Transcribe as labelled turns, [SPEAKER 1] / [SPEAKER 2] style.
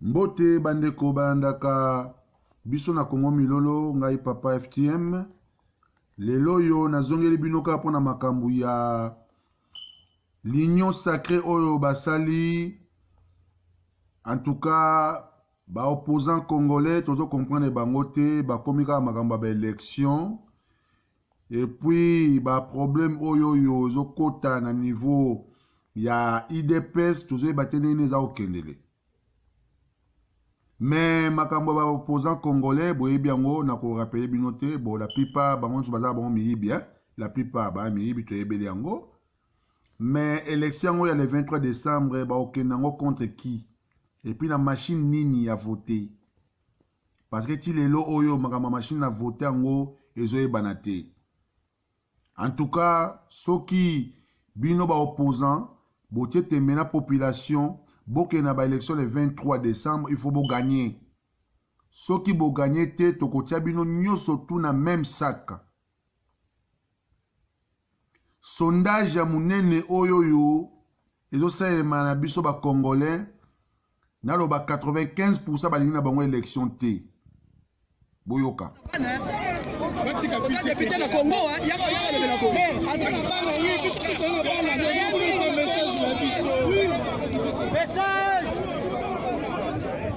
[SPEAKER 1] Mbote bandeko balandaka biso na Congo Milolo, ngai Papa FTM. Lelo oyo nazongeli bino kaka mpo na makambo ya l'union sacrée oyo basali en tout cas ba opposants congolais tozo comprendre bango te bakomi kaka makambo ya ba élection Et puis ba problème oyo yo ezokota na niveau ya idps tozoyeba te ndenge nini eza kokendele me makambo ya baopposant congolais boyebi yango na korapele bino te bo la plupart bango nyonso baza bango miyibi eh? la plupart baa miyibi toyebeli yango me élection yango ya le 23 décembre bakokenda yango contre qui epuis na machine nini ya vote parce que ti lelo oyo makambo ya machine na vote yango ezoyebana te en tout cas soki bino ba opposant botie tembe na population bokende na baélection le 23 décembre il faut boganye soki boganye te tokotia bino nyonso tu na meme sac sondage ya monene oyo oyo ezosalema na biso ba congolais naloba 95 pourcent balingi na bango élection te boyoka